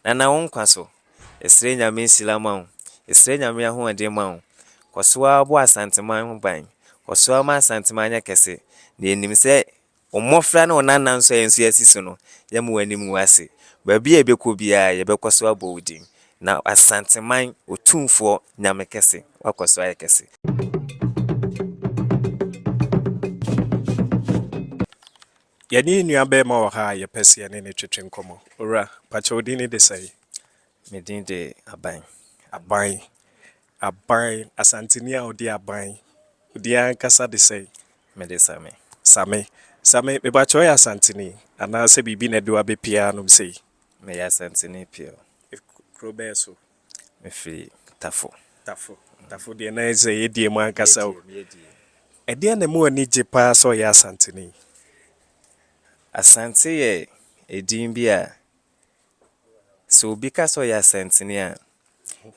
Nana wo nkwa so. Yɛsrɛ Nyame nhyira ma wo. Yɛsrɛ Nyame ahoɔden ma wo. Kɔ so ara bɔ Asanteman ho ban. Kɔ so ara ma Asanteman nyɛ kɛse. Na yɛnim sɛ wo mmɔfra ne wo nana nso a yɛn nso yɛasi so no, yɛremma w'anim ngu ase. Baabi a yɛbɛkɔ biara, yɛbɛkɔ so abɔ wo din. Na Asanteman Otumfoɔ Nyame kɛse, woakɔ so ayɛ kɛse. Yɛne yɛn nua barima wɔ ha a yɛpɛ sɛ yɛne no twetwe nkɔmmɔ. Owura, pakyɛ wo din ne de sɛn? Me din de Aban. Aban. Aban. Asanteni a ɔde aban. Wo din ankasa de sɛn? Me de Same. Same. Same, me pakyɛ woyɛ Asanteni anaasɛ biribi na ɛde wo abɛpue ha nom sei? Meyɛ Asanteni pure. Kuro bɛn so? Mefiri Tafo. Tafo. Tafo deɛ na ɛsɛ yɛdie mu ankasa o. Ɛdeɛ na mu ani gye paa sɛ ɔyɛ Asanteni? Asante yɛ edin bi a sɛ obi ka sɛ ɔyɛ Asanteni a,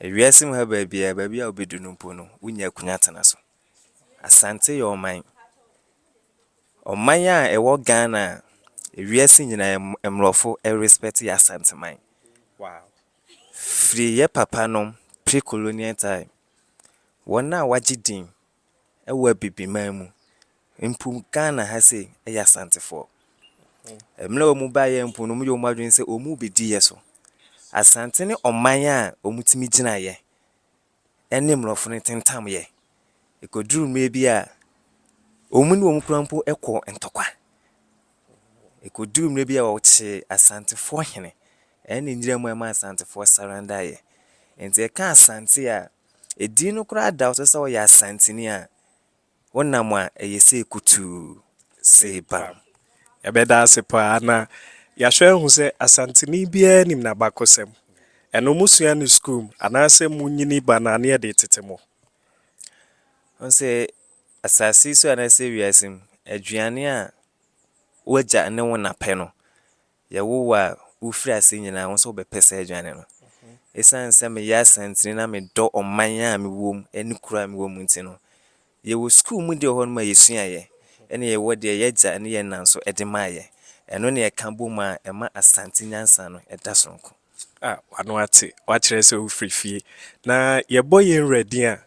ewiase mu ha baabiara, baabi a wobɛdu no mpo no, wonya akunya tena so. Asante yɛ ɔman. Ɔman a ɛwɔ Ghana a ewiase nyinaa mmorɔfo respect yɛ Asanteman. Firi yɛ papa nom pre-colonial time, wɔn a wɔagye din wɔ Abibiman mu, mpo Ghana ha sei, yɛ Asantefoɔ. Mmerɛ a wɔn baeɛ mpo no, wɔyɛ wɔn adwene sɛ wɔn rebɛdi yɛ so. Asante ne ɔman a wɔtumi gyina yɛ ne mmorɔfo no tentamyɛ. Ekoduruu mmere bi a wɔn ne wɔn kura mpo kɔɔ ntɔkwa. Ekoduruu mmere bi a wɔkyee Asantefoɔ hene ne Nyiram a ɛma Asantefoɔ sarandaeɛ. Nti yɛka Asante a, edin no koraa da wo so sɛ ɔyɛ Asanteni a. Wo nam a ɛyɛ sei kutuu sei bam. Yɛbɛda ase paa na yɛahwɛ ahu sɛ Asanteni biara nim n'abakɔsɛm. Ɛno mosua no sukuu mu anaasɛ monyini ba no a na yɛde retete mo. Wohu sɛ asase yi so anaasɛ wiase mu, aduane a w'agya ne wo na pɛ no, Yɛwo wo a, wofiri ase nyinaa wo nso wobɛpɛ saa aduane no. Esiane sɛ meyɛ Asantini na medɔ ɔman a mewɔ mu ne kuro a mewɔ mu nti no, yɛwɔ sukuu mu deɛ wɔ hɔnom a yɛsuaeɛ ɛna yɛwɔ deɛ yɛn agya ne yɛn na nso de maeɛ. Ɛno na yɛka bom a ɛma Asante nyansa no da sononko. Ah, w'ano ate, woakyerɛ sɛ wofiri fie. Na yɛbɔ yɛn wura din a,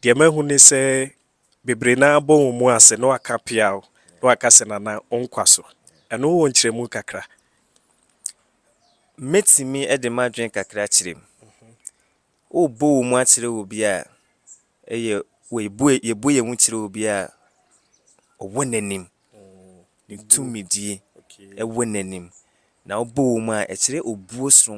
deɛ mahu ne sɛ bebree no ara bɔ wɔn mu ase na wɔaka peaw na wɔaka sɛ Nana wo nkwa so. Ɛno wowɔ nkyerɛmu kakra? Mɛtumi de m'adwene kakra akyerɛ mu. Worebɔ wo mu akyerɛ obi a, ɛyɛ yɛbɔ yɛn mu kyerɛ obi a ɔwɔ n'anim, ne tumidie wɔ n'anim, na wobɔ wo mu a ɛkyerɛ obuo soronko.